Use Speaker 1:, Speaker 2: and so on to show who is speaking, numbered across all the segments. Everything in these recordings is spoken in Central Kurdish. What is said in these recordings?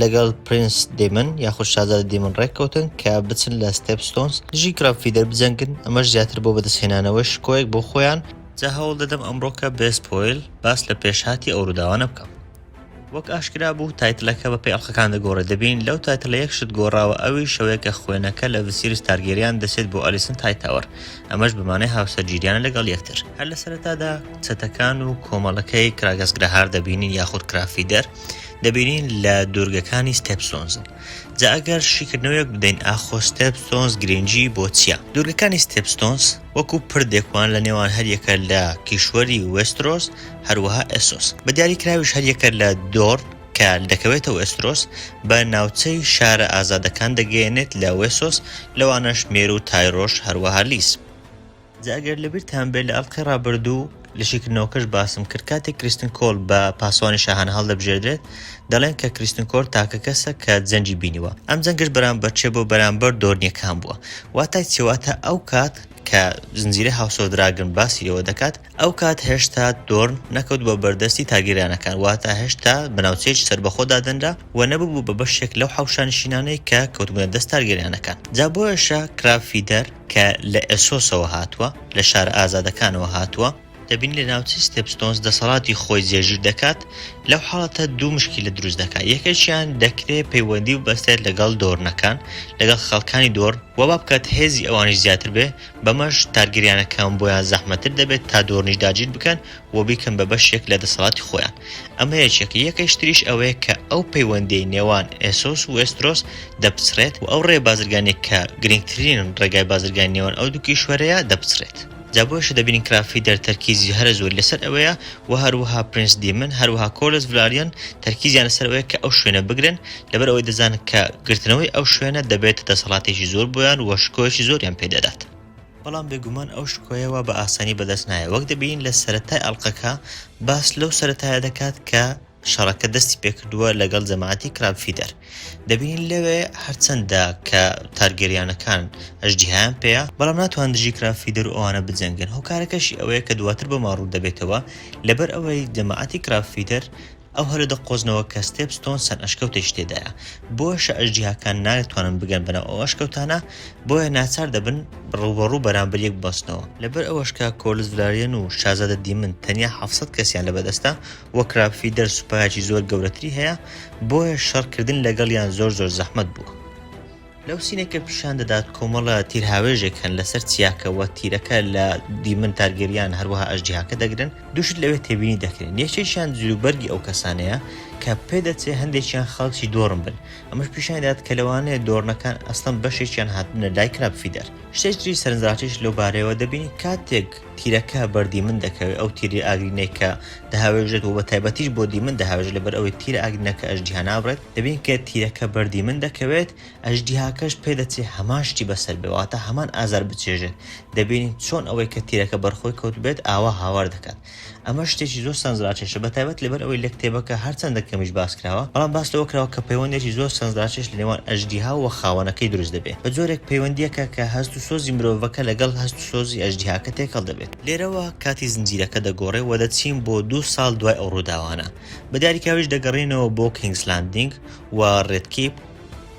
Speaker 1: لەگەڵ پرینس دەیمن یاخود شازادە دەیمن ڕێککەوتن کە بچن لە ستێپ ستۆنز دژی گڕاڤ فیدەر بجەنگن، ئەمەش زیاتر بۆ بەدەستهێنانەوەی شکۆیەک بۆ خۆیان، جا هەوڵ دەدەم ئەمڕۆکە بێ سپۆیل باس لە پێشهاتی ئەو ڕووداوانە بکەم. وەک ئاشکرا بوو تایتلەکە بە پێی ئەڵقەکان دەگۆڕێت، دەبینین لەو تایتلە یەک شت گۆڕاوە ئەویش شەوەیە کە خوێنەکە لە ڤسیریس تارگێریان دەچێت بۆ ئەلیسنت هایتاوەر، ئەمەش بە مانای هاوسەرگیریانە لەگەڵ یەکتر. هەر لە سەرەتادا چەتەکان و کۆمەڵەکەی کراگس گراهار دەبینین یاخود کراڤ فیدەر، دەبینین لە دوورگەکانی ستێپسۆنز جا ئەگەر شیکردنەوەیەک بدەین ئاخۆ ستێپسۆنز گرنگی بۆ چییە دوورگەکانی ستێپستۆنز وەکو پردێک وان لە نێوان هەریەکە لە کیشوەری وێسترۆس هەروەها ئێسۆس بە دیاری کراویش هەریەکە لە دۆر کە دەکەوێتەوە ئێسترۆس بە ناوچەی شارە ئازادەکان دەگەیەنێت لە وێسۆس لەوانەش مێرو تایرۆش هەروەها لیس جا ئەگەر لەبیرتان بێت لە ئەڵقەی ڕابردوو لە شیکردنەوەکەش باسم کرد کاتێک کریستن کۆل بە پاسەوانی شاهانە هەڵدەبژێردرێت دەڵێن کە کریستن کۆر تاکە کەسە کە جەنگی بینیوە ئەم جەنگش بەرامبەر چێ بۆ بەرامبەر دۆرنیەکان بووە واتای چێواتە ئەو کات کە زنجیرە هاوسۆدراگن باسی لەوە دەکات ئەو کات هێشتا دۆرن نەکەوت بە بەردەستی تاگیرانەکان واتا هێشتا بەناوچەیەکی سربەخۆدا دەنرا و نەببوو بە بەشێک لەو حوشانشینانەی کە کەوتبوونە دەست تارگیرانەکان جا بۆیشە کرافیدەر کە لە ئێسۆسەوە هاتووە، لە شارە ئازادەکانەوە هاتووە، دەبینین لە ناوچەی ستێپستۆنس دەسەڵاتی خۆی جێگیر دەکات، لەو حاڵەتە دوو مشکیلە دروست دەکات، یەکەکیان دەکرێت پەیوەندی ببەستێت لەگەڵ دۆرنەکان، لەگەڵ خەڵکانی دۆرن، وا بابکات هێزی ئەوانیش زیاتر بێت، بەمەش تارگریانەکان بۆیان زەحمەتتر دەبێت تا دۆرنیش داگیر بکەن، و بیکەن بە بەشێک لە دەسەڵاتی خۆیان. ئەمە یەکێکە، یەکەیش تریش ئەوەیە کە ئەو پەیوەندیەی نێوان ئێسۆس و وێسترۆس دەپچڕێت و ئەو ڕێ بازرگانیە کە گرنگترین ڕێگای بازرگانی نێوان ئەو دوو کیشوەرەیە دەپچڕێت. جا بۆیشە دەبینین کرافی دەر تەرکیزی هەرە زۆری لەسەر ئەوەیە و هەروەها پرنس دیمن هەروەها کۆرلس ڤلاریان تەرکیزیان لەسەر ئەوەیە کە ئەو شوێنە بگرن لەبەر ئەوەی دەزانن کە گرتنەوەی ئەو شوێنە دەبێتە دەسەڵاتێکی زۆر بۆیان و شکۆیەکی زۆریان پێ دەدات. بەڵام بێگومان ئەو شکۆیە وا بە ئاسانی بەدەست نایە وەک دەبینین لە سەرەتای ئەڵقەکە باس لەو سەرەتایە دەکات کە شەڕەکە دەستی پێکردووە لەگەڵ جەماعەتی کراب فیدەر دەبینین لەوێ هەرچەندە کە تارگەریانەکان ئەژدیهایان پێەیە بەڵام ناتوان دژی کراب فیدەر و ئەوانە بجەنگن هۆکارەکەشی ئەوەیە کە دواتر بۆمان ڕوو دەبێتەوە لەبەر ئەوەی جەماعەتی کراب فیدەر ئەو هەرە دە قۆزنەوە کە ستێپ ستۆن چەند ئەشکەوتێکی تێدایە بۆیەشە ئەژدیهاکان ناتوانن بگەن بەناو ئەو ئەشکەوتانە بۆیە ناچار دەبن ڕووبەڕوو بەرامبەر یەک ببەستنەوە، لەبەر ئەوەش کە کۆرلس ڤلاریەن و شازادە دیمن تەنیا حەڤ سەد کەسیان لە بەدەستە وە کراب فیدەر سوپایەکی زۆر گەورەتری هەیە بۆیە شەڕ کردن لەگەڵیان زۆر زۆر زەحمەت بووە. لەو سینەی کە پیشان دەدات کۆمەڵە تیرهاوێژێک هەن لەسەر چیاکە وە تیرەکە لە دیمن تارگێریان هەروەها ئەژدیهاکە دەگرن دوو شت لەوێ تێبینی دەکرێن یەکێکیان جلوبەرگی ئەو کەسانەیە کە پێدەچێ هەندێکیان خەڵکی دۆڕن بن ئەمەش پیشانی دەدات کە لەوانەیە دۆڕنەکان ئەسڵەن بەشێکیان هاتبنە لای کراب فیدەر شتێکی سەرنجڕاکێش لەو بارەیەوە دەبینین کاتێک تیرەکە بەر دیمن دەکەوێت ئەو تیری ئاگرینەی کە دەهاوێژێت و بە تایبەتیش بۆ دیمن دەهاوێژێت لەبەر ئەوەی تیرە ئاگرینەکە ئەژدیها نابڕێت دەبین کە تیرەکە بەردی من دەکەوێت، ئەژدیهاکەش پێدەچێت هەمان شتی بەسەر بێت، واتە هەمان ئازار بچێژێت، دەبینین چۆن ئەوەی کە تیرەکە بەر خۆی کەوتبێت ئاوا هاوار دەکات. ئەمە شتێکی زۆر سەنزراکێشە، بەتایبەت لەبەر ئەوەی لە کتێبەکە هەرچەندە کەمیش باس کراوە، بەڵام باس لەوە کراوە کە پەیوەندێکی زۆر سەنزراکێش لە نێوان ئەژدیها و خاوەنەکەی دروست دەبێت، بە جۆرێک پەیوەندییەکە کە هەست و سۆزی مرۆڤەکە لەگەڵ هەست و سۆزی ئەژدیهاکە تێکەڵ دەبێت. لێرەوە کاتی زنجیرەکە دەگۆڕێت و دەچین بۆ دوو ساڵ دوای ئەو ڕووداوانە. بە داریکاویش دەگەڕێینەوە بۆ کینگس لاندینگ و ڕێد کیپ،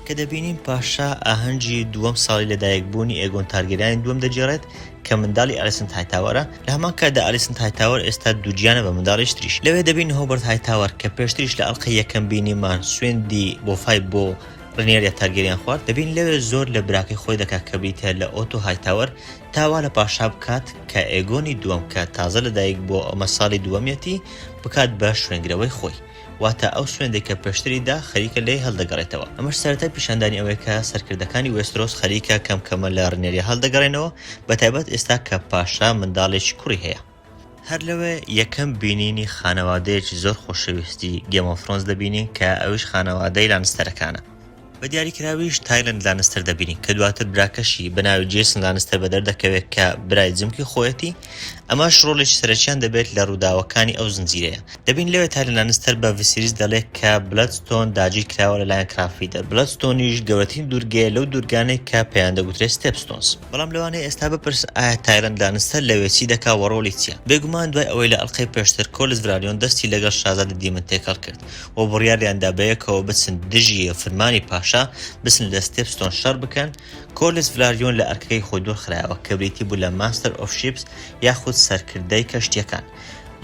Speaker 1: کە دەبینین پاشا ئاهەنگی دووەم ساڵی لەدایکبوونی ئێگۆن تارگێریانی دووەم دەگێڕێت، کە منداڵی ئالیسنت هایتاوەرە، لە هەمان کاتدا ئالیسنت هایتاوەر ئێستا دووگیانە بە منداڵیش تریش. لەوێ دەبینین هۆبەرت هایتاوەر، کە پێشتریش لە ئەڵقەی یەکەم بینیمان سوێندی بۆفای بۆ ڕینێریا تارگێریان خوارد، دەبینین لەوێ زۆر لە براکەی خۆی دەکات کە بریتییە لە ئۆتۆ هایتاوەر، تا وا لە پاشا بکات کە ئێگۆنی دووەم کە تازە لە دایک بووە و ئەمە ساڵی دووەمیەتی، بکات بە شوێنگرەوەی خۆی. واتە ئەو سوێندەی کە پێشتری دا، خەریکە لێی هەڵدەگەڕێتەوە. ئەمەش سەرەتای پیشاندانی ئەوەیە کە سەرکردەکانی وێسترۆس خەریکە کەم کەمە لە ڕینێریا هەڵدەگەڕێنەوە، بەتایبەت ئێستا کە پاشا منداڵێکی کوڕی هەیە. هەر لەوێ یەکەم بینینی خانەوادەیەکی زۆر خۆشەویستی گێم ئۆف ثرۆنس دەبینین کە ئەویش خانەوادەی لانستەرەکانە، بە دیاریکراویش تایلەند لانستەر دەبینین کە دواتر براکەشی بە ناوی جەیسن لانستەر بەدەر دەکەوێت کە برای جمکی خۆیەتی ئەمەش ڕۆڵێکی سەرەکیان دەبێت لە ڕووداوەکانی ئەو زنجیرەیە، دەبینین لەوێ تایلەند لانستەر بە ڤیسیریس دەڵێت کە بلەد ستۆن داگیر کراوە لەلایەن کرافیدەر، بلەد ستۆنیش گەورەترین دوورگەیە لەو دوورگانەی کە پێیان دەگوترێت ستێپ ستۆنس. بەڵام لەوانەیە ئێستا بپرس ئایا تایلەند لانستەر لەوێ چی دەکا وە ڕۆڵی چیە؟ بێگومان دوای ئەوەی لە ئەڵقەی پێشتر کۆلس ڤرالیۆن دەستی لەگەڵ شازادە دیمن تێکەڵ کرد و بڕیاریان دا بەیەکەوە بچن دژی فرمانی پاشا بچن لە ستێپ ستۆن شەڕ بکەن کۆلس ڤرالیۆن لە ئەرکەکەی خۆی دوور خرایەوە کە بریتی بوو لە ماستەر ئۆف شیپس یاخود سەرکردەی کەشتیەکان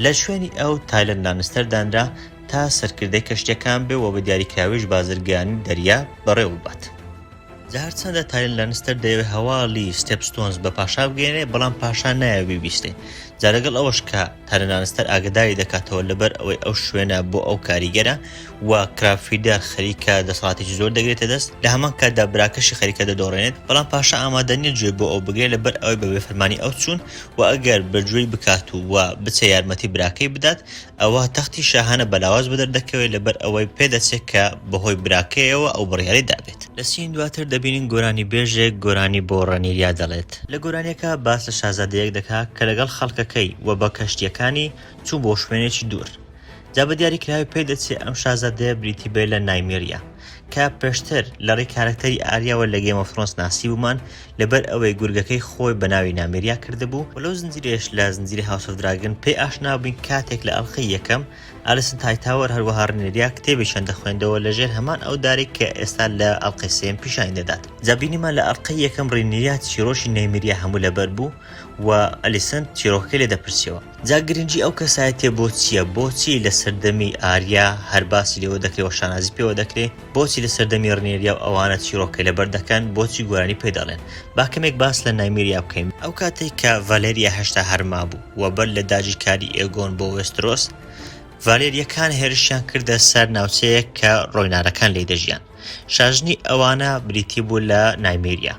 Speaker 1: لە شوێنی ئەو تایلەند لانستەر دانرا تا سەرکردەی کەشتیەکان بێ و بە دیاریکراویش بازرگانی دەریا بەڕێوە ببات. جا هەرچەندە تایرن لانستەر دەیەوێت هەواڵی ستێپ ستۆنز بە پاشا بگەێنێ بەڵام پاشا نایە بیبیستێ جا لەگەڵ ئەوەش کە تایرن لانستەر ئاگداری دەکاتەوە لەبەر ئەوەی ئەو شوێنە بۆ ئەو کاریگەرە و کرافیدار خەریکە دەسەڵاتێکی زۆر دەگرێتە دەست لە هەمان کاتدا براکەشی خەریکە دەدۆڕێنێت بەڵام پاشا ئامادەنیە گوێ بۆ ئەو بگرێت لەبەر ئەوەی بە بێفەرمانی ئەو چوون و ئەگەر بەگوێی بکات و بچە یارمەتی براکەی بدات ئەوا تەختی شاهانە بە لاواز بەدەر دەکەوێت لەبەر ئەوەی پێدەچێت کە بەهۆی براکەیەوە ئەو بڕیاری دابێت. لە سین دواتر دەبینین گۆرانیبێژێک گۆرانی بۆ ڕەنیریا دەڵێت. لە گۆرانیەکە باس لە شازادەیەک دەکا کە لەگەڵ خەڵکەکەی و بە کەشتیەکانی چوو بۆ شوێنێکی دوور. جا بە دیاری کراوی پێدەچێت ئەم شازادەیە بریتی بێت لە نایمیریا کە پێشتر لە ڕێی کارەکتەری ئاریاوە لە گەیم ئۆف ثرۆنس ناسیبوومان لەبەر ئەوەی گورگەکەی خۆی بە ناوی نامێریا کردبوو و لەو زنجیرەیەش لە زنجیرەی هاوس ئۆف دراگن پێی ئاشنا بووین کاتێک لە ئەڵقەی یەکەم ئالیسن هایتاوەر هەروەها ڕێنێریا کتێبێکیان دەخوێندەوە لە ژێر هەمان ئەو دارێک کە ئێستا لە ئەڵقەی سێم پیشانی دەدات جا بینیمان لە ئەڵقەی یەکەم ڕێنێریا چیرۆکی نەیمریا هەموو لەبەر بوو و ئەلیسن چیرۆکەکەی لێ دەپرسیەوە جا گرنگی ئەو کەسایەتیە بۆ چیە؟ بۆچی لە سەردەمی ئاریا هەر باسی لێوە دەکرێ و شانازی پێوە دەکرێ؟ بۆچی لە سەردەمی ڕنێریا و ئەوانە چیڕۆکەی لەبەر دەکەن؟ بۆچی گۆرانی پێ دەڵێن؟ با کەمێک باس لە نایمیریا بکەین. ئەو کاتەی کە ڤالێریا هێشتا هەر مابوو و بەر لە داگیرکاری ئێگۆن بۆ وێسترۆس، ڤالێریەکان هێرشیان کردە سەر ناوچەیەک کە ڕۆینارەکان لێی دەژیان. شاژنی ئەوانە بریتی بوو لە نایمیریا.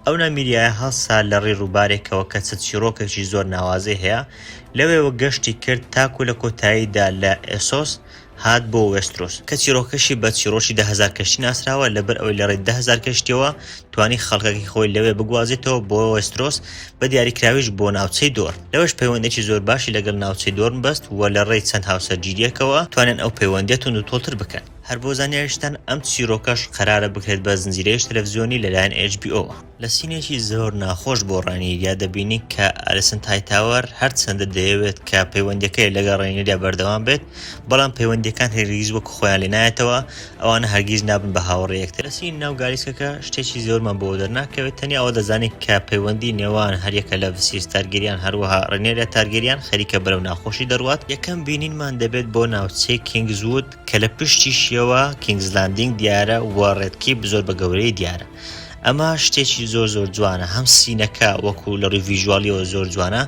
Speaker 1: ئەو نامیریایە هەڵسا لە ڕێ ڕووبارێکەوە کە چەت چیڕۆکێکی زۆر ناوازەی هەیە، لەوێوە گەشتی کرد تاکو لە کۆتاییدا لە ئێسۆس هات بۆ وێسترۆس، کە چیڕۆکەشی بە چیڕۆکی دە هەزار کەشتی ناسراوە، لەبەر ئەوەی لە ڕێ دە هەزار کەشتییەوە توانی خەڵکەکەی خۆی لەوێ بگوازێتەوە بۆ وێسترۆس، بە دیاریکراویش بۆ ناوچەی دۆر. لەوێش پەیوەندییەکی زۆر باشی لەگەڵ ناوچەی دۆرن بەست و لە ڕێی چەند هاوسەرگیرییەکەوە توانیان ئەو پەیوەندییە توندوتۆڵتر بکەن. هەر بۆ زانیاریشتان ئەم چیرۆکەش قەرارە بکرێت بە زنجیرەیش تەلەفزیۆنی لەلایەن HBO وە. لە سینێکی زۆر ناخۆش بۆ ڕاینیریا دەبینین کە ئالیسن هایتاوەر هەرچەندە دەیەوێت کە پەیوەندیەکەی لەگەڵ ڕاینیریا بەردەوام بێت بەڵام پەیوەندیەکان هەرگیز وەک خۆیان لێ نایەتەوە ئەوانە هەرگیز نابن بە هاوڕێ یەکتر لە سینی ناو گالیسکەکە شتێکی زۆرمان بۆ دەرناکەوێت تەنیا ئەوە دەزانین کە پەیوەندی نێوان هەریەکە لە ڤسیریس تارگێریان هەروەها ڕێنێریا تارگێریان خەریکە بەرەو ناخۆشی دەڕوات یەکەم بینینمان دەبێت بۆ ناوچەی کینگزوود کە لە پشتیشیەوە کینگز لاندینگ دیارە و ڕێد کیپ زۆر بە گەورەی دیارە ئەمە شتێکی زۆر زۆر جوانە هەم سینەکە وەکو لە ڕووی ڤیژوالیەوە زۆر جوانە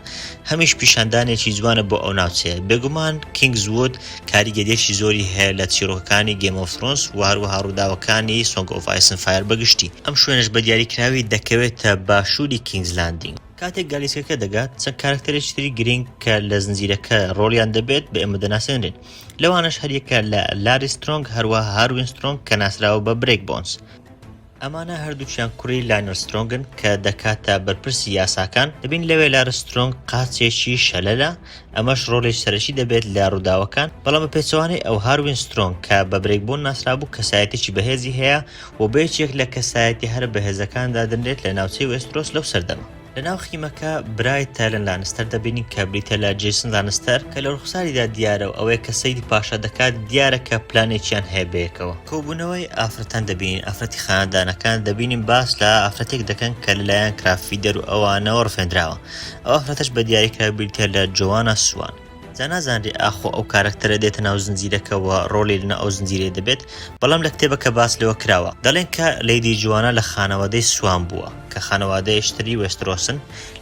Speaker 1: هەمیش پیشاندانێکی جوانە بۆ ئەو ناوچەیە بێگومان کینگز وود کاریگەریەکی زۆری هەیە لە چیرۆکەکانی گێم ئۆف ثرۆنس و هەروەها ڕووداوەکانی سۆنگ ئۆف ئایس ئەند فایەر بەگشتی ئەم شوێنەش بە دیاریکراوی دەکەوێتە باشووری کینگز لاندینگ. کاتێک گالیسکەکە دەگات چەند کارەکتەرێکی تری گرینگ کە لە زنجیرەکە ڕۆڵیان دەبێت بە ئێمە دەناسێنرێن. لەوانەش هەریەکە لە لاری سترۆنگ هەروەها هاروین سترۆنگ کە ناسراوە بە برێک بۆنس. ئەمانە هەردووکیان کوڕی لاینەر سترۆنگن کە دەکاتە بەرپرسی یاساکان، دەبین لەوێ لارس سترۆنگ قاچێکی شەلەلە ئەمەش ڕۆڵێکی سەرەکی دەبێت لە ڕووداوەکان، بەڵام بە پێچەوانەی ئەو هاروین سترۆنگ کە بە برێک بۆن ناسرابوو کەسایەتێکی بەهێزی هەیە و بە یەکێک لە کەسایەتیە هەرە بەهێزەکان دادەنرێت لە ناوچەی وێسترۆس لەو سەردەمە. لە ناو خیمەکە برای تایلەن لانستەر دەبینین کە بریتە لە جیسن لانستەر کە لە ڕوخساریدا دیارە و ئەوەیە کە سەیدی پاشا دەکات دیارە کە پلانێکیان هەیە بەیەکەوە کۆبوونەوەی ئافرەتان دەبینین ئافرەتی خانەدانەکان دەبینین باس لە ئافرەتێک دەکەن کە لەلایەن کرافیدەر و ئەوانەوە ڕفێندراوە ئەو ئافرەتەش بە دیاریکرا بریتە لە جۆوانە سوان جا نازانرێ ئاخۆ ئەو کارەکتەرە دێتە ناو زنجیرەکەوە ڕۆلی لە ناو ئەو زنجیرەی دەبێت، بەڵام لە کتێبەکە باس لەوە کراوە. دەڵێن کە لەیدی جوانا لە خانەوادەی سوان بووە، کە خانەوادەیش تری وێسترۆسن،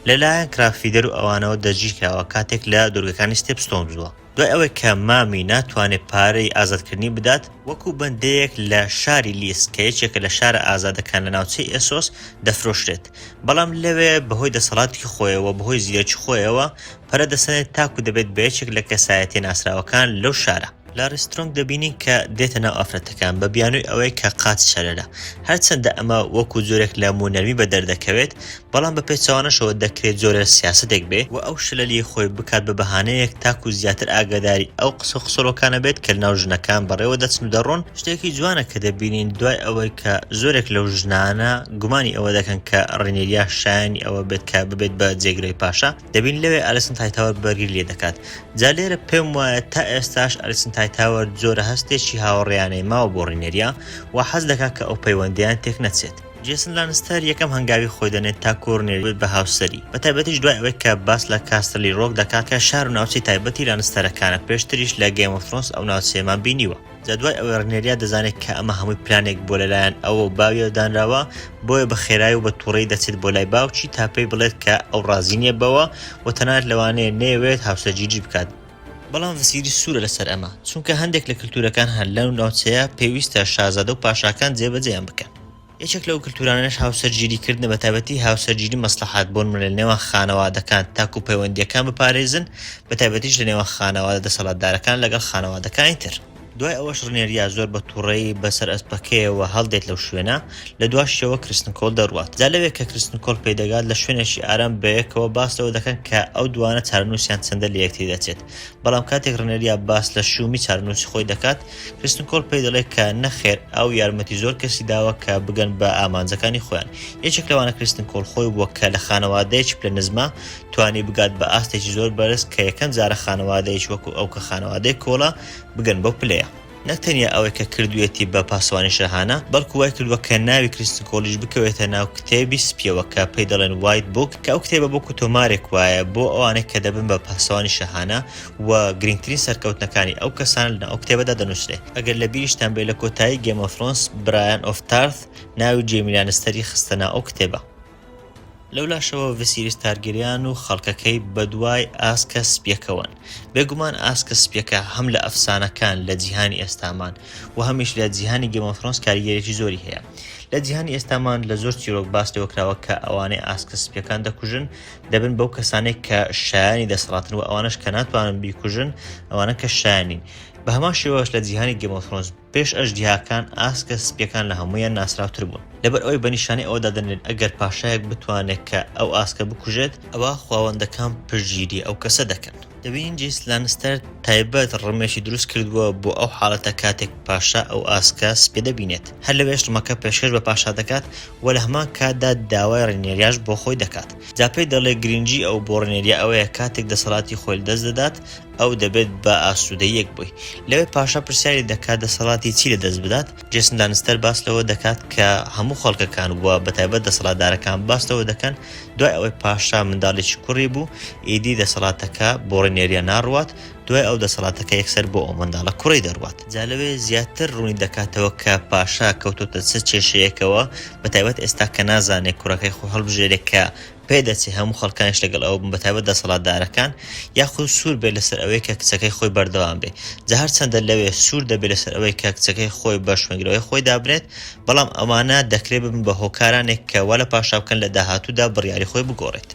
Speaker 1: لە لایەن کراگفیدەر و ئەوانەوە دەستگیر کراوە کاتێک لە دوورگەکانی ستێپستۆن بووە، دوای ئەوەی کە مامی ناتوانێ پارەی ئازادکردنی بدات، وەکوو بەندەیەک لە شاری لیس کە یەکێکە لە شارە ئازادەکان لە ناوچەی ئێسۆس دەفرۆشرێت، بەڵام لەوێ بەهۆی دەسەڵاتی خۆیەوە بەهۆی زیرەکی خۆیەوە پەرە دەسەنێت تاکو دەبێت بە یەکێک لە کەسایەتیە ناسراوەکان لەو شارە. لە ڕیسترۆنگ دەبینین کە دێتە ناو ئافرەتەکان بە بیانوی ئەوەی کە قاچ شەرەرە. هەرچەندە ئەمە وەکو جۆرێک لە موو نەرمی بە دەردەکەوێت، بەڵام بە پێچەوانەشەوە دەکرێت جۆرە سیاسەتێک بێ، و ئەو شلەلیەی خۆی بکات بە بەهانەیەک تاکو زیاتر ئاگاداری ئەو قسەو قسۆڵۆکانە بێت کە لەناو ژنەکان بەڕێوە دەچن و دەڕۆن، شتێکی جوانە کە دەبینین دوای ئەوەی کە زۆرێک لەو ژنانە گومانی ئەوە دەکەن کە ڕینیریا شایەنی ئەوە بێت کە ببێت بە جێگرەوی پاشا، دەبین لەوێ ئەلیسنت هایتاوەر بەرگری لێ دەکات جا لێرە پێم وایە تا ئێستاش ئەلیسنت هایتاوەر جۆرە هەستێکی هاوڕێیانەی ماوە بۆ ڕینێریا و حەز دەکات کە ئەو پەیوەندیان تێک نەچێت جێسن لانستەر یەکەم هەنگاوی خۆی دەنێت تا کۆرنێری بێت بە هاوسەری بە تایبەتیش دوای ئەوەی کە باس لە کاستەلی ڕۆک دەکات کە شار و ناوچەی تایبەتی لانستەرەکانە پێشتریش لە گەیم ئۆف ثرۆنس ئەو ناوچەیەمان بینیوە. جا دوای ئەوەی ڕنێریا دەزانێت کە ئەمە هەمووی پلانێک بووە لەلایەن ئەو و باویەوە دانراوە، بۆیە بە خێرای و بە توڕەیی دەچێت بۆ لای باوکی تا پێی بڵێت کە ئەو ڕازی نییە بەوە و تەنانەت لەوانەیە نەیەوێت هاوسەرگیری بکات، بەڵام ڤسیریس سوورە لەسەر ئەمە، چونکە هەندێک لە کلتورەکان هەن لەو ناوچەیە پێویستە شازادە و پاشاکان جێبەجێیان بکەن. یەکێک لەو کلتورانەش هاوسەرگیری کردنە بە تایبەتی هاوسەرگیری مەسڵەحات بۆن لە نێوان خانەوادەکان تاکو پەیوەندیەکان بپارێزن بە تایبەتیش لە نێوان خانەوادە دەسەڵاتدارەکان لەگەڵ خانەوادەکانی تر. دوای ئەوەش ڕنێریا زۆر بە توڕەیی بە سەر ئەسپەکەیەوە هەڵدێت لەو شوێنە، لە دواشیەوە کرستن کۆل دەڕوات. جا لەوێ کە کرستن کۆل پێی دەگات لە شوێنێکی ئارام بەیەکەوە باس لەوە دەکەن کە ئەو دوانە چارەنوسیان چەندە لە یەکتری دەچێت. بەڵام کاتێک رنێریا باس لە شوومی چارەنووسی خۆی دەکات، کریستن کۆل پێی دەڵێت کە نەخێر، ئەو یارمەتی زۆر کەسی داوە کە بگەن بە ئامانجەکانی خۆیان. یەکێک لەوانە کریستن کۆل خۆی بووە کە لە خانەوادەیەکی پلە نزمە توانی بگات بە ئاستێکی زۆر بەرز کە یەکەم جارە خانەوادەیەکی وەکو ئەو کە خانەوادەی کۆلە بگەن بەو پلەیە. نەک تەنیا ئەوەی کە کردوویەتی بە پاسەوانی شاهانە، بەڵکو وای کردووە کە ناوی کریستن کۆڵیش بکەوێتە ناو کتێبی سپییەوە کە پێی دەڵێن وایت بووک، کە ئەو کتێبە بووکو تۆمارێک وایە بۆ ئەوانەی کە دەبن بە پاسەوانی شاهانە و گرینگترین سەرکەوتنەکانی ئەو کەسانە لەناو ئەو کتێبەدا دەنووسرێ. ئەگەر لە بیریشتان بێ لە کۆتایی گێم ئۆف ثرۆنس برایان ئۆف تارث ناوی جەیمی لانستەری خستە ناو ئەو کتێبە. لەولاشەوە ڤسیریس تارگیریان و خەڵکەکەی بەدوای ئاسکە سپیەکەوەن. بێگومان ئاسکە سپیەکە هەم لە ئەفسانەکان لە جیهانی ئێستامان و هەمیش لە جیهانی گێم ئۆف ثرۆنس کاریگەریی زۆری هەیە. لە جیهانی ئێستامان لە زۆر چیرۆک باس لەوە کراوە کە ئەوانەی ئاسکە سپیەکان دەکوژن دەبن بەو کەسانەی کە شایانی دەسەڵاتن و ئەوانەش کە ناتوانن بیکوژن ئەوانە کە شایان نین. بە هەمان شێوەش لە جیهانی گێم ئۆف ثرۆنس. پێش ئەژدیهاکان ئاسکە سپییەکان لە هەموویان ناسراوتر بوون، لەبەر ئەوەی بە نیشانەی ئەوە دادەنرێن ئەگەر پاشایەک بتوانێت کە ئەو ئاسکە بکوژێت، ئەوا خواوەندەکان پشتگیری ئەو کەسە دەکەن. دەبینین جەیس لانستەر تایبەت ڕمێکی دروست کردووە بۆ ئەو حاڵەتە کاتێک پاشا ئەو ئاسکە سپییە دەبینێت، هەر لەوێش ڕمەکە پێشکەش بە پاشا دەکات و لە هەمان کاتدا داوای ڕینێریاش بۆ خۆی دەکات، جا پێی دەڵێت گرنگی ئەو بۆ ڕینێریا ئەوەیە کاتێک دەسەڵاتی خۆی لەدەست دەدات، ئەو دەبێت بە ئاسوودەییەک بووی. لەوێ پاشا پرسیاری دەکات دەسەڵاتی چی لە دەست بدات، جێسن لانستەر باس لەوە دەکات کە هەموو خەڵکەکان و بە تایبەت دەسەڵاتدارەکان باس لەوە دەکەن دوای ئەوەی پاشا منداڵێکی کوڕی بوو ئیدی دەسەڵاتەکە بۆ ڕینێریا ناڕوات، دوای ئەو دەسەڵاتەکە یەکسەر بۆ ئەو منداڵە کوڕەی دەڕوات. جا لەوێ زیاتر ڕوونی دەکاتەوە کە پاشا کەوتۆتە چ کێشەیەکەوە، بە تایبەت ئێستا کە نازانێ کوڕەکەی خۆی هەڵبژێرێ کە پێدەچێت هەموو خەڵکانیش لەگەڵ ئەوە بن بەتایبەت دەسەڵاتدارەکان، یاخود سوور بێت لەسەر ئەوەی کە کچەکەی خۆی بەردەوام بێت، جا هەرچەندە لەوێ سوور دەبێت لەسەر ئەوەی کە کچەکەی خۆی بە شوێنگرەوەی خۆی دابنێت، بەڵام ئەوانە دەکرێت ببن بە هۆکارانێک کە وا لە پاشا بکەن لە داهاتوودا بڕیاری خۆی بگۆڕێت.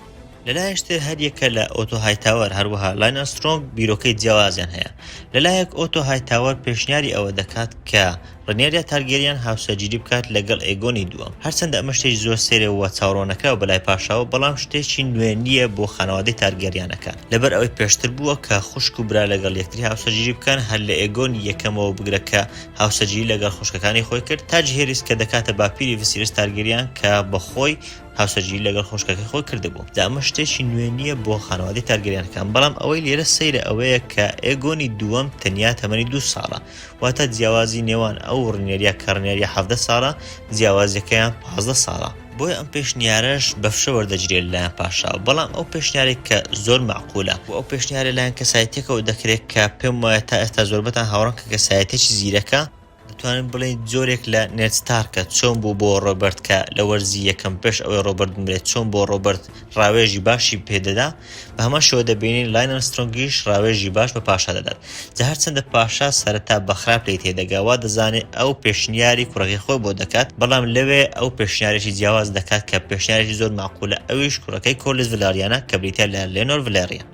Speaker 1: لەلایەک تر هەر یەکە لە ئۆتۆ هایتاوەر هەروەها لاین ئەرسترۆنگ بیرۆکەی جیاوازیان هەیە، لەلایەک ئۆتۆ هایتاوەر پێشنیاری ئەوە دەکات کە، ڕنێریا تارگێریان هاوسەرگیری بکات لەگەڵ ئێگۆنی دووەم، هەرچەندە ئەمە شتێکی زۆر سەیرە و چاوڕوان نەکراو بەلای پاشاوە، بەڵام شتێکی نوێ نییە بۆ خانەوادەی تارگێریانەکان، لەبەر ئەوەی پێشتر بووە کە خوشک و برا لەگەڵ یەکتری هاوسەرگیری بکەن، هەر لە ئێگۆنی یەکەمەوە بگرە کە هاوسەرگیری لەگەڵ خوشکەکانی خۆی کرد، تا جیهێریس کە دەکاتە باپیری ڤسیرس تارگێریان کە بەخۆی هاوسەرگیری لەگەڵ خوشکەکەی خۆی کردبوو، جا ئەمە شتێکی نوێ نییە بۆ خانەوادەی تارگێریانەکان، بەڵام ئەوەی لێرە سەیرە ئەوەیە کە ئێگۆنی دووەم تەنیا تەمەنی دوو ساڵە، واتە جیاوازی نێوان ئەو ڕنێریە کە ڕنێریە حەڤدە ساڵە جیاوازیەکەیان پازدە ساڵە. بۆیە ئەم پێشنیارەش بە فشە وەردەگیرێت لەلایەن پاشا، بەڵام ئەو پێشنیارێک کە زۆر مەعقولە، وە ئەو پێشنیارە لەلایەن کەسایەتیەکەوە دەکرێت کە پێم وایە تا ئێستا زۆربەتان هاوڕان کە کەسایەتیەکی زیرەکە، دەتوانین بڵێین جۆرێک لە نێد ستارکە، چۆن بوو بۆ ڕۆبەرت کە لە وەرزی یەکەم پێش ئەوەی ڕۆبەرت بمرێت چۆن بۆ ڕۆبەرت ڕاوێژی باشی پێدەدا، بە هەمان شێوە دەبینین لاین ئەرمسترۆنگیش ڕاوێژی باش بە پاشا دەدات. جا هەرچەندە پاشا سەرەتا بە خراپ لێی تێدەگا، وا دەزانێ ئەو پێشنیاری کوڕەکەی خۆی بۆ دەکات، بەڵام لەوێ ئەو پێشنیارێکی جیاواز دەکات کە پێشنیارێکی زۆر مەعقولە، ئەویش کوڕەکەی کۆرلیس ڤلاریانە کە بریتیە لە لێنۆر ڤلێریان.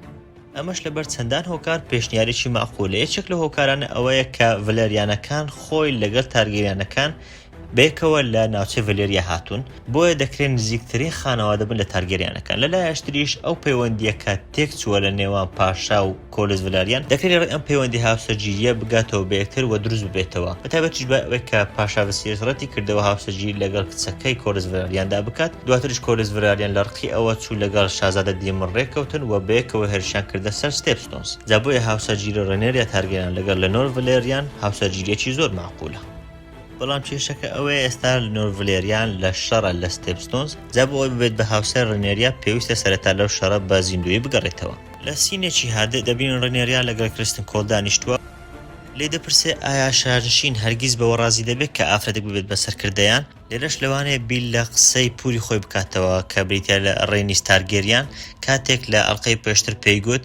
Speaker 1: ئەمەش لەبەر چەندان هۆکار پێشنیارێکی مەعقولە، یەکێک لەو هۆکارانە ئەوەیە کە ڤلێریانەکان خۆی لەگەڵ تارگێریانەکان بەیەکەوە لە ناوچەی ڤەلێریا هاتوون، بۆیە دەکرێت نزیکترین خانەوادە بن لە تارگێریانەکان، لە لایەش تریش ئەو پەیوەندییە کە تێک چووە لە نێوان پاشا و کۆلس ڤەلاریان، دەکرێت لە ڕێی ئەم پەیوەندی هاوسەرگیرییە بگاتەوە بە یەکتر و دروست ببێتەوە، بە تایبەتیش دوای ئەوەی کە پاشا ڤسیریس ڕەتی کردەوە هاوسەرگیری لەگەڵ کچەکەی کۆلس ڤەلاریاندا بکات، دواتریش کۆلس ڤەلاریان لە ڕقی ئەوە چوو لەگەڵ شازادە دیمن ڕێککەوتن و بەیەکەوە هێرشیان کردە سەر ستێپستۆنس، جا بۆیە هاوسەرگیری ڕێنێریا تارگێریان لەگەڵ لێنۆر ڤەلێریان هاوسەرگیرییەکی زۆر مەعقولە. بەڵام کێشەکە ئەوەیە ئێستا نۆرد ڤلێریان لە شەڕە لە ستێپستۆنز، جا بۆ ئەوەی ببێت بە هاوسەر ڕێنێریا پێویستە سەرەتا لەو شەڕە بە زیندوویی بگەڕێتەوە. لە سینێکی هادئ دەبینین ڕێنێریا لەگەڵ کریستن کۆڵ دانیشتووە، لێی دەپرسێت ئایا شارنشین هەرگیز بەوە ڕازی دەبێت کە ئافرەتێک ببێت بە سەرکردەیان؟ لێرەش لەوانەیە بیر لە قسەی پووری خۆی بکاتەوە کە بریتییە لە ڕێنیس تارگێریان کاتێک لە ئەڵقەی پێشتر پێی گوت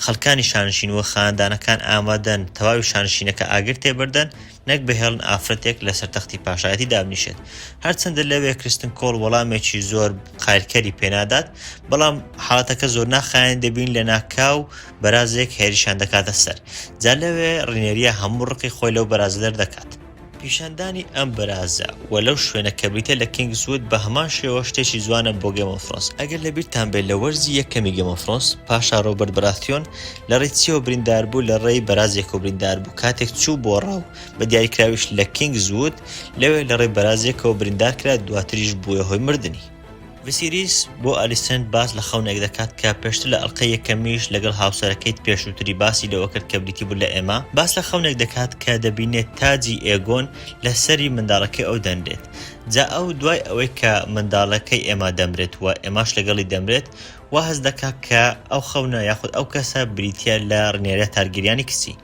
Speaker 1: خەڵکانی شانشین و خاندانەکان ئامادەن تەواوی شانشینەکە ئاگر تێبەردەن، نەک بهێڵن ئافرەتێک لەسەر تەختی پاشایەتی دابنیشێت، هەرچەندە لەوێ کرستن کۆڵ وەڵامێکی زۆر قایلکەری پێنادات، بەڵام حاڵەتەکە زۆرناخایەنی دەبین لەناکاو بەرازێک هێرشیان دەکاتە سەر، جا لەوێ ڕینێریا هەموو ڕقی خۆی لەو بەرازە دەردەکات. پیشاندانی ئەم بەرازە و لەو شوێنە کە بریتیە لە کینگس وود بەهەمان شێوە شتێکی جوانە بۆ گێمۆفرۆنس، ئەگەر لەبیرتان بێت لە وەرزی یەکەمی گێمۆفرۆنس پاشا ڕۆبەرت بەراثیۆن لەڕێی چیەوە برینداربوو؟ لەڕێی بەرازێکەوە برینداربوو کاتێک چوو بۆ ڕاو، بە دیاریکراویش لە کینگز وود، لەوێ لەڕێی بەرازێکەوە بریندارکرا، دواتریش بووە هۆی مردنی. ڤیسیریس بۆ ئالیسەند باس لە خەونێک دەکات کە پێشتر لە ئەڵقەی یەکەمیش لەگەڵ هاوسەرەکەیت پێشووتری باسی لەوە کرد کە بریتی بوو لە ئێما، باس لە خەونێک دەکات کە دەبینێت تاجی ئێگۆن لە سەری منداڵەکەی ئەو دەنرێت جا ئەو دوای ئەوەی کە منداڵەکەی ئێما دەمرێت و ئێماش لەگەڵی دەمرێت، وا هەست دەکا کە ئەو خەونە یاخود ئەو کەسە بریتیە لە ڕنێرە تارگریانی کچی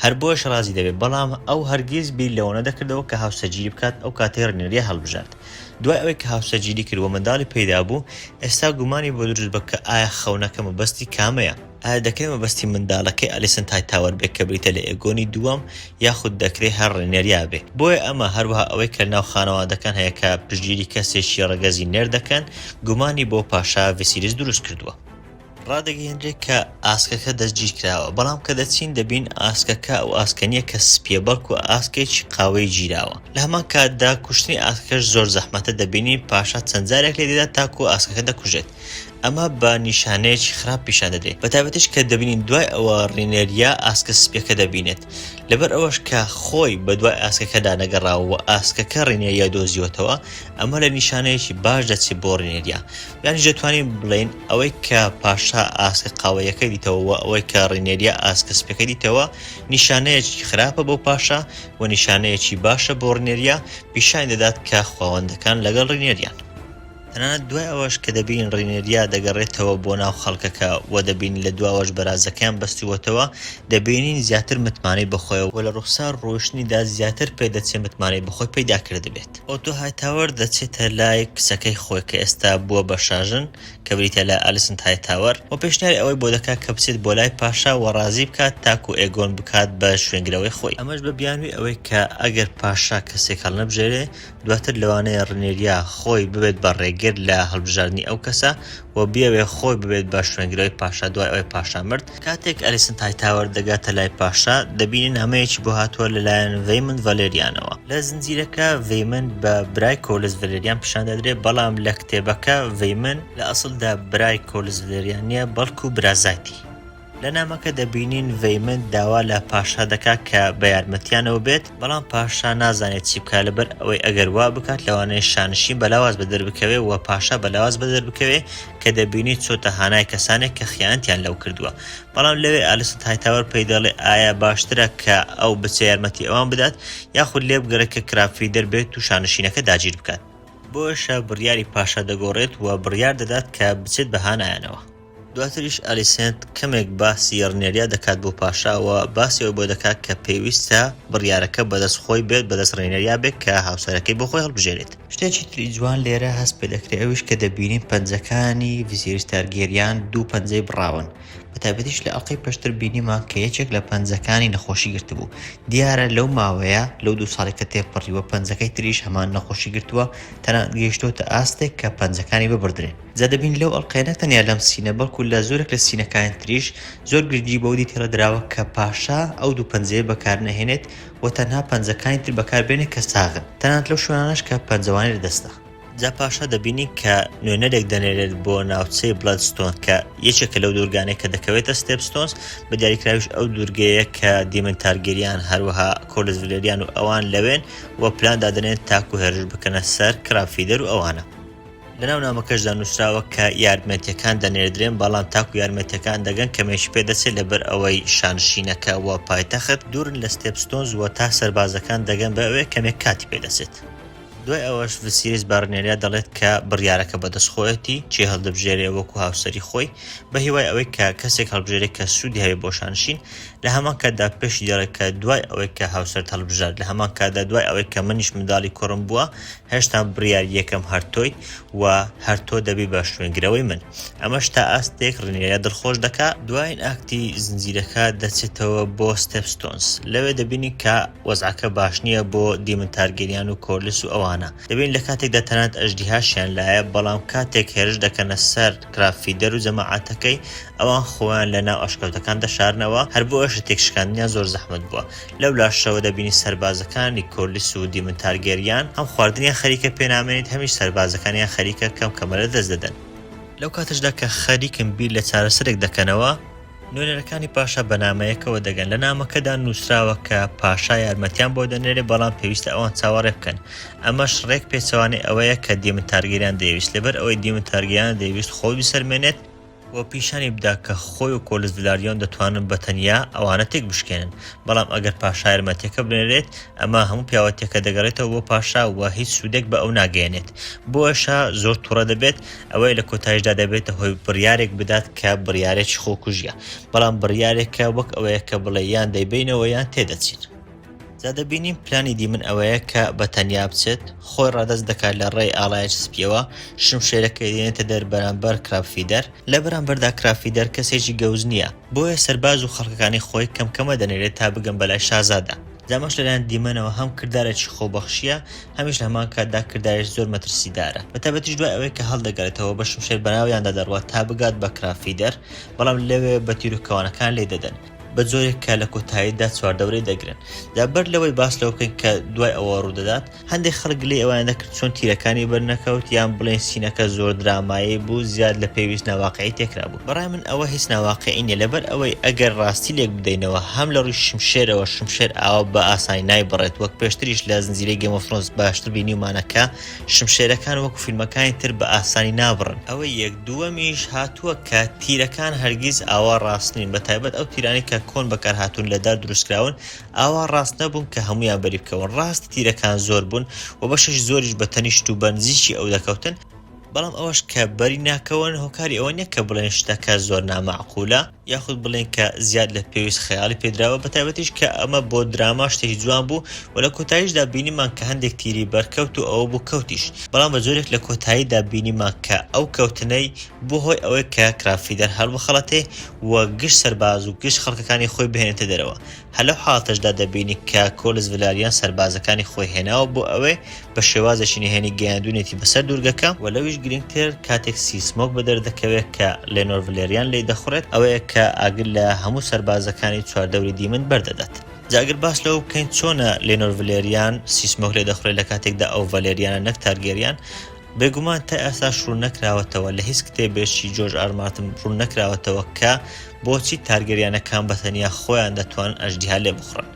Speaker 1: هەر بۆش ڕازی دەبێت بەڵام ئەو هەرگیز بیر لەوەنە دەکردەوە کە هاوسەرگیری بکات ئەو کاتەی ڕنێریە هەڵبژارد دوای ئەوەی کە هاوسەرگیری کرد و منداڵی پەیدا بوو ئێستا گومانی بۆ دروست بە کە ئایا خەونەکە مەبەستی کامەیە ئایا دەکرێت مەبەستی منداڵەکەی ئەلیسن تایتاوەر بێت کە بریتە لە ئێگۆنی دووەم یاخود دەکرێ هەر ڕێنێریا بێ بۆیە ئەمە هەروەها ئەوەی کە لەناو خانەوادەکان هەیە کە پشتگیری کەسێکی ڕەگەزی نێر دەکەن گومانی بۆ پاشا ڤیسیریس دروست کردووە. ڕادەگەیەنرێ کە ئاسکەکە دەستگیر کراوە بەڵام کە دەچین دەبین ئاسکەکە ئەو ئاسکە نییە کە سپییە بەڵکو ئاسکێکی قاوەیی گیراوە لە هەمان کاتدا کوشتنی ئاسکەکەش زۆر زەحمەتە دەبینین پاشا چەند جارێک لێدەدات تاکو ئاسکەکە دەکوژێت. ئەمە بە نیشانەیەکی خراپ پیشان دەدرێت، بەتایبەتیش کە دەبینین دوای ئەوە ڕینێریا ئاسکە سپییەکە دەبینێت، لەبەر ئەوەش کە خۆی بەدوای ئاسکەکەدا نەگەڕاوە و ئاسکەکە ڕینێریای دۆزیوەتەوە، ئەمە لە نیشانەیەکی باش دەچێت بۆ ڕینێریا. یانیش دەتوانین بڵێین ئەوەی کە پاشا ئاسکە قاوەییەکە دیتەوە و ئەوەی کە ڕینێریا ئاسکە سپییەکە دیتەوە نیشانەیەکی خراپە بۆ پاشا و نیشانەیەکی باشە بۆ ڕینێریا، پیشانی دەدات کە خواوەندەکان لەگەڵ ڕینێریان. تەنانەت دوای ئەوەش کە دەبینین ڕینێریا دەگەڕێتەوە بۆ ناو خەڵکەکە و دەبینین لە دواوەش بەرازەکەیان بەستووەتەوە، دەبینین زیاتر متمانەی بە خۆیە و لە ڕووخسار ڕۆیشتنیدا زیاتر پێ دەچێ متمانەی بە خۆی پەیدا کردبێت. ئۆتۆ هایتاوەر دەچێتە لای کچەکەی خۆی کە ئێستا بووە بە شاژن کە بریتییە لە ئەلیسنت هایتاوەر و پێشنیاری ئەوەی بۆ دەکات کە بچێت بۆ لای پاشا و ڕازی بکات تاکوو ئێگۆن بکات بە شوێنگرەوەی خۆی. ئەمەش بە بیانووی ئەوەی کە ئەگەر پاشا کەسێک هەڵنەبژێرێ، دواتر لەوانەیە ڕنێریا خۆی ببێت بە ڕێگر لە هەڵبژاردنی ئەو کەسە و بیەوێت خۆی ببێت بە شوێنگرەوەی پاشا دوای ئەوەی پاشا مرد. کاتێک ئەلیسنت هایتاوەر دەگاتە لای پاشا، دەبینێت نامەیەکی بۆ هاتووە لەلایەن ڤەیمند ڤەلێریانەوە. لە زنجیرەکە ڤەیمند بە برای کۆولس ڤەلێریان پیشان دەدرێت، بەڵام لە کتێبەکە ڤەیمند لە ئەسڵدا برای کۆولس ڤەلێریان نییە، بەڵکو برازایتی. لە نامەکە دەبینین ڤەیمنت داوا لە پاشا دەکات کە بە یارمەتیانەوە بێت، بەڵام پاشا نازانێت چی بکات لەبەر ئەوەی ئەگەر وا بکات لەوانەیە شانشین بە لاواز بە دەربکەوێت و پاشا بە لاواز بە دەربکەوێت کە دەبینی چۆتە هانای کەسانێک کە خیانەتیان لەو کردووە بەڵام لەوێ ئالسن هایتاوەر پێی دەڵێ ئایا باشترە کە ئەو بچێ یارمەتی ئەوان بدات یاخود لێ بگەڕێت کە کرافی دەربێت و شانشینەکە داگیر بکات بۆشە بڕیاری پاشا دەگۆڕێت و بڕیار دەدات کە بچێت بە هانایانەوە. دواتریش ئالیسێنت کەمێک باسی ڕنێریا دەکات بۆ پاشا و باسی ئەوەی بۆ دەکات کە پێویستە بڕیارەکە بەدەست خۆی بێت، بەدەست ڕێنێریا بێت کە هاوسەرەکەی بۆ خۆی هەڵبژێرێت. شتێکی تری جوان لێرە هەست پێ دەکرێت ئەویش کە دەبینین پەنجەکانی ڤیسێریس تارگێریان دوو پەنجەی بڕاون، بە تایبەتیش لە ئەڵقەی پێشتر بینیمان کە یەکێک لە پەنجەکانی نەخۆشی گرتبوو، دیارە لەو ماوەیە لەو دوو ساڵەی کە تێپەڕیوە پەنجەکەی تریش هەمان نەخۆشی گرتووە، تەنانەت گەیشتۆتە ئاستێک کە پەنجەکانی ببڕدرێن. جا دەبینی لەو ئەڵقەیە نەک تەنیا لەم سینە بەڵکو لە زۆرێک لە سینەکانی تریش زۆر گرنگی بەوە دیتەرە دراوە کە پاشا ئەو دوو پەنجەیە بەکار نەهێنێت و تەنها پەنجەکانی تر بەکار بێنێت کە ساغن تەنانەت لەو شوێنانەش کە پەنجەوانی لە دەستە. جا پاشا دەبینین کە نوێنەرێک دەنێرێت بۆ ناوچەی بڵەدستۆن کە یەکێکە لەو دوورگانەی کە دەکەوێتە ستێپستۆنس بە دیاریکراویش ئەو دوورگەیە کە دیمن تارگێریان هەروەها کۆرلس ڤلێریان و ئەوان لەوێن و پلان دادەنێن تاکو هێرش بکەنە سەر کراب فیدەر و ئەوانە. لە ناو نامەکەشدا نووسراوە کە یارمەتیەکان دەنێردرێن بەڵام تاکو یارمەتیەکان دەگەن کەمێکی پێ دەچێت لەبەر ئەوەی شانشینەکە وە پایتەخت دوورن لە ستێپستۆنز وە تا سەربازەکان دەگەن بە ئەوێ کەمێک کاتی پێ دەچێت. دوای ئەوەش ڤسیریس بە ڕنێریا دەڵێت کە بڕیارەکە بەدەست خۆیەتی کێ هەڵدەبژێرێ وەکو هاوسەری خۆی بە هیوای ئەوەی کە کەسێک هەڵبژێرێ کە سوودی هەبێ بۆ شانشین لە هەمان کاتدا پێشی دەڵێت کە دوای ئەوەی کە هاوسەرت هەڵبژارد لە هەمان کاتدا دوای ئەوەی کە منیش منداڵی کوڕم بووە هێشتا بڕیار یەکەم هەر تۆیت و هەر تۆ دەبی بە شوێنگرەوەی من ئەمەش تا ئاستێک ڕینێرە دڵخۆش دەکا، دوایین ئاکتی زنجیرەکە دەچێتەوە بۆ ستێپ ستۆنس لەوێ دەبینین کە وەزعەکە باش نییە بۆ دیمن تارگێریان و کۆرلیس و ئەوانە دەبینین لە کاتێکدا تەنانەت ئەژدیهاشیان لایە بەڵام کاتێک هێرش دەکەنە سەر کراب فیدەر و جەماعەتەکەی ئەوان خۆیان لە ناو ئەشکەوتەکان دەشارنەوە هەر بۆیەشە تێکشکاندنیان زۆر زەحمەت بووە لەو لاشەوە دەبینی سەربازەکان نیکۆلس و دیمن تارگێریان هەم خواردنیان خەریکە پێنامێنیت هەمیش سەربازەکانیان خەریکە کەم کەمە لە دەست دەدەن. لەو کاتەشدا کە خەریکن بیر لە چارەسەرێک دەکەنەوە، نوێنەرەکانی پاشا بە نامەیەکەوە دەگەن لە نامەکەدا نوسراوە کە پاشا یارمەتیان بۆ دەنێرێ بەڵام پێویستە ئەوان چاوەڕێ بکەن ئەمەش ڕێک پێچەوانەی ئەوەیە کە دیمن تارگێریان دەیەویست لەبەر ئەوەی دیمن تارگێریان دەیەویست خۆی بسەلمێنێت و پیشانی بدا کە خۆی و کۆلزدلاریۆن دەتوانن بە تەنیا ئەوانە تێک بشکێنن. بەڵام ئەگەر پاشا یارمەتیەکە بنێرێت، ئەمە هەموو پیاوەتیەکە دەگەڕێتەوە بۆ پاشا و هیچ سوودێک بە ئەو ناگەیەنێت. بۆیە شا زۆر توڕە دەبێت، ئەوەیە لە کۆتایشدا دەبێتە هۆی بڕیارێک بدات کە بڕیارێکی خۆکوژیە. بەڵام بڕیارێکە وەک ئەوەیە کە بڵێ یان دەیبەینەوە یان تێدەچین. جا دەبینین پلانی دی من ئەوەیە کە بە تەنیا بچێت، خۆی ڕادەست دەکات لە ڕێی ئاڵایەکی سپییەوە، شمشێرەکەی دێنێتە دەر بەرامبەر کراپفیدەر، لە بەرامبەردا کراپفیدەر کەسێکی گەوج نییە، بۆیە سەرباز و خەڵکەکانی خۆی کەم کەمە دەنێرێت تا بگەن بەلای شازادە، جا ئەمەش لەلایەن دیمەنەوە هەم کردارێکی خۆبەخشییە، هەمیش لە هەمان کاتدا کردارێکی زۆر مەترسیدارە، بە تایبەتیش دوای ئەوەی کە هەڵدەگەڕێتەوە بە شمشێر بەناویاندا دەڕوات تا بگات بە کراپفیدەر، بەڵام لەوێ بە تیروکەوانەکان لێیدەدەن. بە جۆرێک کە لە کۆتاییدا چواردەورەی دەگرن. جا بەر لەوەی باس لەوە بکەین کە دوای ئەوە ڕوودەدات، هەندێک خەڵک گلەی ئەوەیان دەکرد چۆن تیرەکانی بەرنەکەوت، یان بڵێین سینەکە زۆر درامایی بوو، زیاد لە پێویست ناواقیعی تێکرابوو. بەڕای من ئەوە هیچ ناواقیعی نییە، لەبەر ئەوەی ئەگەر ڕاستی لێک بدەینەوە، هەم لە ڕووی شمشێرەوە، شمشێر ئاوا بە ئاسانی نایبڕێت، وەک پێشتریش لە زنجیرەی گەیم ئۆف ثرۆنس باشتر بینیومانە کە، شمشێرەکان وەکو فیلمەکانی تر بە ئاسانی نابڕن. ئەوەی یەک دووەمیش هاتووە کە تیرەکان هەرگیز ئاوا ڕاست نین بە تایبەت ئەو تیرانەی کە کۆن بەکار هاتوون لە دار دروست کراون ئاوا ڕاست نەبوون کە هەموویان بەری بکەون ڕاستی تیرەکان زۆر بوون و بەشێکی زۆریش بە تەنیشت و بە نزیکی ئەو دەکەوتن بەڵام ئەوەش کە بەری ناکەون هۆکاری ئەوە نیە کە بڵێن شتەکە زۆر نامەعقولە. یاخود بڵێین کە زیاد لە پێویست خەیاڵی پێدراوە، بەتایبەتیش کە ئەمە بۆ دراما شتێکی جوان بوو و لە کۆتاییشدا بینیمان کە هەندێک تیری بەرکەوت و ئەوە بوو کەوتیش، بەڵام بە جۆرێک لە کۆتاییدا بینیمان کە ئەو کەوتنەی بووە هۆی ئەوەی کە کرابفیدەر هەڵبخەڵەتێ و گشت سەرباز و گشت خەڵکەکانی خۆی بهێنێتە دەرەوە، هەر لەو حاڵەتەشدا دەبینی کە کۆلس ڤلاریان سەربازەکانی خۆی هێناوە بۆ ئەوێ، بە شێوازێکی نهێنی گەیاندوونیەتی بەسەر دوورگەکە، وە لەویش گرنگتر کاتێک سی سمۆک بەدەر دەکەوێت کە لێنۆر ڤلێریان لێی دەخوڕێت، ئەوەیە کە ئاگر لە هەموو سەربازەکانی چواردەوری دیمەن بەردەدات. جا ئەگەر باس لەوە بکەین چۆنە لێنۆر ڤلێریان سی سمۆک لێ دەخوڕێت لە کاتێکدا ئەو ڤەلێریانە نەک تارگێریان، بێگومان تا ئێستاش ڕووننەکراوەتەوە، لە هیچ کتێبێکی جۆرج ئار مارتن ڕووننەکراوەتەوە کە بۆچی تارگەریانەکان بە تەنیا خۆیان دەتوانن ئەژدیها لێبخوڕن.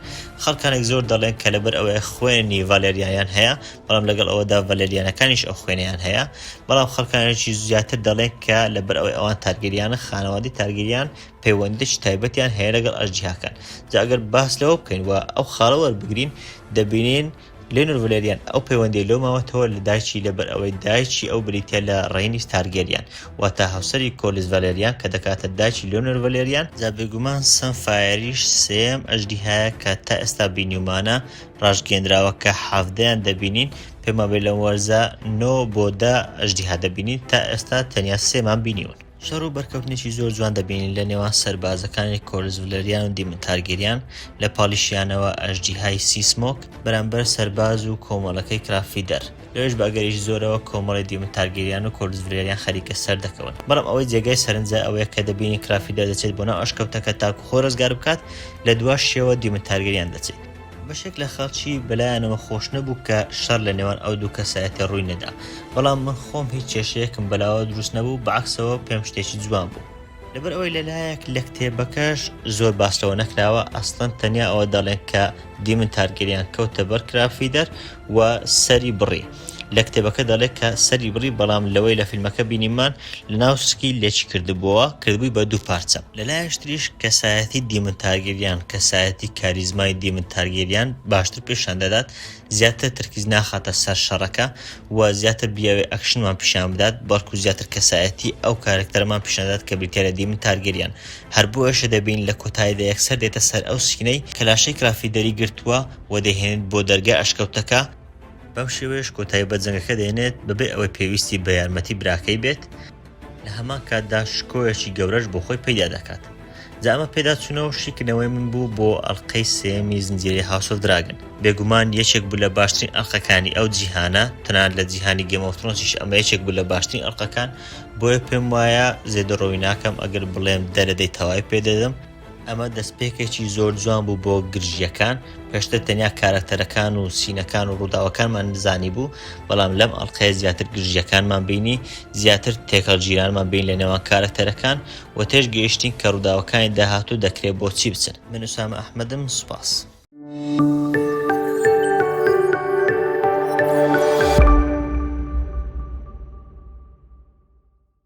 Speaker 1: خەڵکانێک زۆر دەڵێن کە لەبەر ئەوەیە خوێنی ڤالێریایان هەیە، بەڵام لەگەڵ ئەوەدا ڤالێریانەکانیش ئەو خوێنەیان هەیە، بەڵام خەڵکانێکی زیاتر دەڵێن کە لەبەر ئەوەی ئەوان تارگەریانن، خانەوادەی تارگەریان پەیوەندییەکی تایبەتیان هەیە لەگەڵ ئەژدیهاکان. جا ئەگەر باس لەوە بکەین و ئەو خاڵە وەربگرین، دەبینین، لێنور ڤلێریان ئەو پەیوەندی لۆ ماوەتەوە لە دایکی لەبەر ئەوەی دایکی ئەو بریتیە لە ڕەینیس تارگێریان واتە هاوسەری کۆلیس ڤەلێریان کە دەکاتە دایکی لێنور ڤەلێریان، جا بێگومان سەن فایەریش سێیەم ئەژدیهایە کە تا ئێستا بینیومانە ڕاشگێنراوە کە حەڤدەیان دەبینین پێمابێ لەم وەرزە نۆ بۆ دە ئەژدیها دەبینین تا ئێستا تەنیا سێمان بینیون. شەڕ و بەرکەوتنێکی زۆر جوان دەبینین لە نێوان سەربازەکانی کۆرلس ڤلریان و دیمن تارگیریان، لە پاڵیشیانەوە ئەژدیهای سی سمۆک بەرامبەر سەرباز و کۆمەڵەکەی کرافیدەر، لەوێش بە ئەگەرێکی زۆرەوە کۆمەڵەی دیمن تارگیریان و کۆرلس ڤلریان خەریکە سەردەکەون، بەڵام ئەوەی جێگای سەرنجە ئەوەیە کە دەبینین کرافیدەر دەچێت بۆ ناو ئەشکەوتەکە تاکو خۆی ڕزگاربکات، لە دواشیەوە دیمن تارگیریان دەچێت. بەشێک لە خەڵکی بەلایانەوە خۆش نەبوو کە شەڕ لە نێوان ئەو دوو کەسایەتە ڕووی نەدا، بەڵام من خۆم هیچ کێشەیەکم بەلاوە دروست نەبوو، بەعەکسەوە پێم شتێکی جوان بوو. لەبەر ئەوەی لە لایەک لە کتێبەکەش زۆر باس لەوە نەکراوە، ئەسڵەن تەنیا ئەوە دەڵێن کە دیمن تارگەریان کەوتە بەر کرافیدەر و سەری بڕی، لە کتێبەکە دەڵێت کە سەری بڕی بەڵام لەوەی لە فیلمەکە بینیمان لەناو سکی لێکی کردبۆوە کردبووی بە دوو پارچە. لە لایەش تریش کەسایەتی دیمن تارگیریان کەسایەتی کاریزمای دیمن تارگیریان باشتر پێشان دەدات زیاتر ترکیز ناخاتە سەر شەڕەکە و زیاتر بیاوێ ئەکشنمان پیشان بدات بەڵکو زیاتر کەسایەتی ئەو کارەکتەرەمان پیشان دەدات کە بریتیە لە دیمن تارگیریان هەر بۆیەشە دەبین لە کۆتایدا یەکسەر دێتە سەر ئەو سکینەی کە لاشەی کرافی دەری گرتووە و دەیهێنێت بۆ دەرگای ئەشکەوتەکە بەم شێوەیەش کۆتایی بە جەنگەکە دێنێت بەبێ ئەوەی پێویستی بە یارمەتی براکەی بێت، لە هەمان کاتدا شکۆیەکی گەورەش بۆ خۆی پەیدا دەکات. جا ئەمە پێداچوونەوە و شیکردنەوەی من بوو بۆ ئەڵقەی سێیەمی زنجیرەی هاوس ئۆف دراگن. بێگومان یەکێک بوو لە باشترین ئەڵقەکانی ئەو جیهانە، تەنانەت لە جیهانی گەیم ئۆف ترۆنسیش ئەمە یەکێک بوو لە باشترین ئەڵقەکان، بۆیە پێموایە زێدەڕۆیی ناکەم ئەگەر بڵێم دەرەدەی تەواوی پێدەدەم، ئەمە دەستپێکێکی زۆر جوان بوو بۆ گرژییەکان، پێشتر تەنیا کارەکتەرەکان و سینەکان و ڕووداوەکانمان زانیبوو، بەڵام لەم ئەڵقەیە زیاتر گرژییەکانمان بینی، زیاتر تێکهەڵگیرانمان بینی لەنێوان کارەکتەرەکان و تێشگەیشتین کە ڕووداوەکانی داهاتوو دەکرێت بۆچی بچن. من ئوسامە ئەحمەدم، سوپاس.